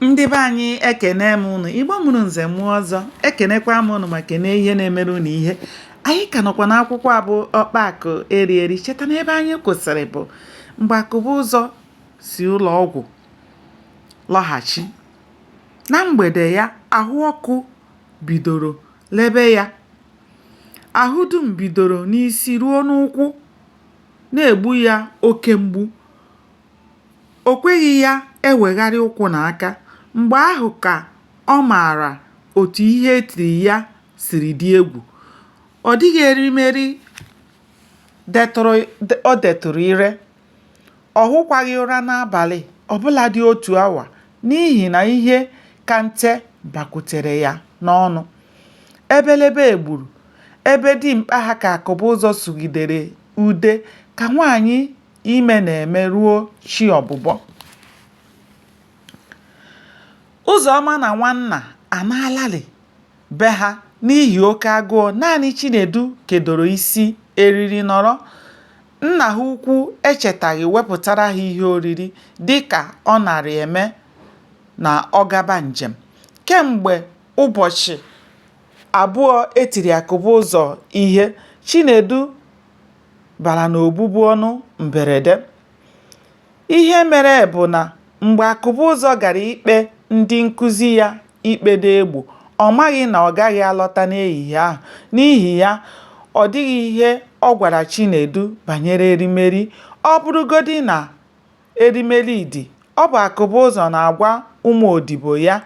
ndị be anyị ekene m ụnụ igbo mụrụ nze mụọ ọzọ ekenekwa m ụnụ ma kenee ihe na-emere ụnụ ihe anyị ka nọkwa n'akwụkwọ a bụ ọkpa akụ eri eri cheta na ebe anyị kwụsịrị bụ mgbe akụbụzọ si ụlọ ọgwụ lọghachi na mgbede ya ahụ ọkụ bidoro lebe ya ahụ dum bidoro n'isi ruo n'ụkwụ na-egbu ya oke mgbu O kweghị ya ewegharị ụkwụ na aka. Mgbe ahụ ka ọ maara otu ihe e tiri ya siri dị egwu. Ọ dịghị erimeri o detụrụ ire. Ọ hụkwaghị ụra n'abalị ọ bụladị otu awa n'ihi na ihe ka nte bakwutere ya n'ọnụ. Ebelebe egburu, ebe dimkpa ha ka Akụbụzọ sụgidere ude ka nwaanyị ime na-eme ruo chi ọbụbọ Ụzọma na Nwanna anaalalị be ha n'ihi oke agụụ naanị Chinedu kedoro isi eriri nọrọ nna ha ukwu echetaghị wepụtara ha ihe oriri dịka ọ narị eme na ọ gaba njem kemgbe ụbọchị abụọ e tiri Akụbụzọ ihe Chinedu bara n'obubu ọnụ mberede. Ihe mere bụ na mgbe Akụbụzọ gara ikpe ndị nkụzi ya ikpe n'egbo, ọ maghị na ọ gaghị alọta n'ehihie ahụ, n'ihi ya ọ dịghị ihe ọ gwara Chinedu banyere erimeri. Ọ bụrụgodị na erimeri dị, ọ bụ Akụbụzọ na-agwa ụmụ odibo ya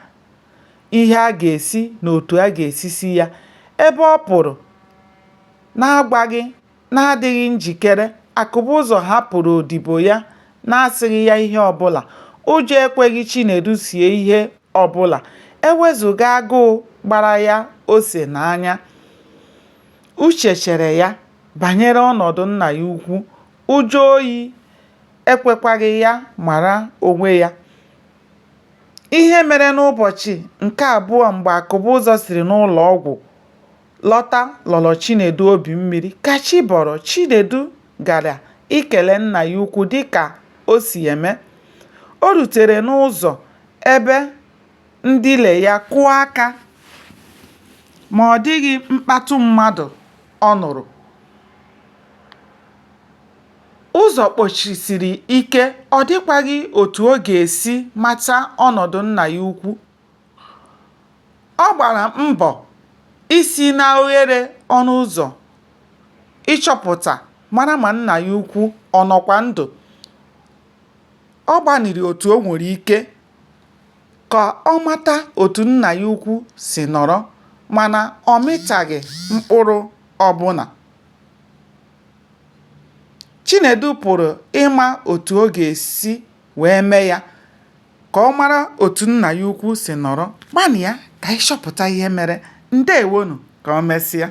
ihe a ga-esi na otu a ga-esi si ya. Ebe ọ pụrụ N'agwaghị, n'adịghị njikere, Akụbụzọ hapụrụ odibo ya n'asịghị ya ihe ọbụla. Ụjọ ekweghị Chinedu sie ihe ọbụla, e wezụga agụụ gbara ya ose n'anya. Uche chere ya banyere ọnọdụ nna ya ukwu, ụjọ oyi ekwekwaghị ya mara onwe ya. Ihe mere n'ụbọchị nke abụọ mgbe Akụbụzọ siri n'ụlọọgwụ. lọta lọrọ Chinedu obi mmiri. Ka chi bọrọ, Chinedu gara ikele nna ya ukwu dịka o si eme. O rutere n'ụzọ ebe ndina ya kụọ aka ma ọ dịghị mkpatụ mmadụ ọ nụrụ. Ụzọ kpọchisiri ike, ọ dịkwaghị otu ọ ga-esi mata ọnọdụ nna ya ukwu. Ọ gbara mbọ isi n'oghere ọnụ ụzọ ịchọpụta mara ma nna ya ukwu ọ nọkwa ndụ. Ọ gbanịrị otu o nwere ike ka ọ mata otu nna ya ukwu si nọrọ mana ọ mịtaghị mkpụrụ ọbụla. Chinedu pụrụ ịma otu ọ ga-esi wee mee ya ka ọ mara otu nna ya ukwu si nọrọ. Gbanịa ka anyị chọpụta ihe mere. Ndewonụ, ka o mesịa.